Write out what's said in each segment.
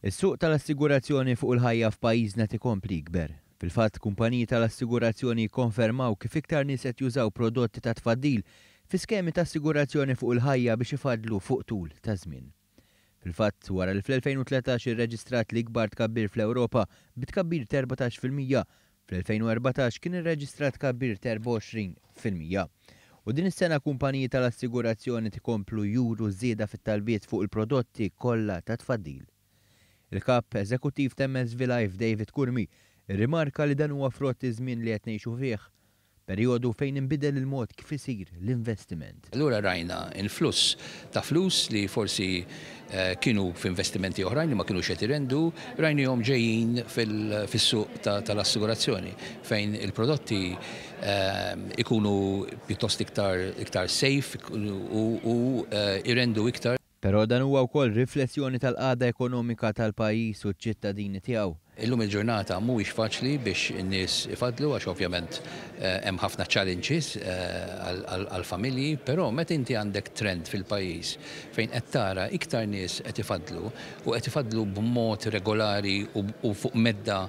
Is-suq tal-assigurazzjoni fuq il-ħajja f'pajjiżna qed ikompli jikber. Fil-fatt, kumpaniji tal-assigurazzjoni jikkonfermaw kif iktar nies qed jużaw prodotti ta' tfaddil fi skemi ta' assigurazzjoni fuq il-ħajja biex ifaddlu fuq tul ta' żmien. Fil-fatt, wara li fl-2013 irreġistrat l-ikbar tkabbir fl-Ewropa bi tkabbir t'erbatax fil-mija, Fl-2014 kien irreġistrat tkabbir ta' 24 fil-mija. U din is-sena kumpaniji tal-assigurazzjoni tkomplu juru żieda fit-talbiet fuq il-prodotti kollha ta' tfaddil. Il-Kap Eżekuttiv ta' MSV Life David Curmi rrimarka li dan huwa frott iż-żmien li qed ngħixu fih Perjodu fejn inbidel il-mod kif isir l-investiment. Allura rajna influss ta' flus li forsi kienu f'investimenti oħrajn li ma kinux qed irendu, rajniehom ġejjin fis-suq tal-assigurazzjoni fejn il-prodotti jkunu pjuttost iktar safe u jrendu iktar. Però dan huwa wkoll riflessjoni tal-qagħda ekonomika tal-pajjiż u ċ-ċittadini tiegħu. Illum il-ġurnata mhuwiex faċli biex in-nies ifaddlu għax ovvjament hemm ħafna challenges għall-familji, però meta inti għandek trend fil-pajjiż fejn qed tara iktar nies qed ifaddlu u qed ifaddlu b'mod regolari u fuq medda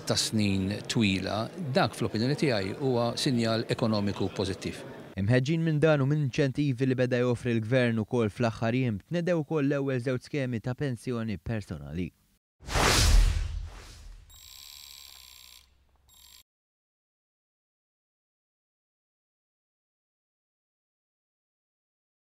ta' snin twila, dak fl-opinjoni tiegħi huwa sinjal ekonomiku pożittiv. Imħeġġin minn dan u mill-inċentivi li beda joffri l-Gvern ukoll fl-aħħar jiem, tnedew ukoll l-ewwel żewġ skemi ta' pensjoni personali.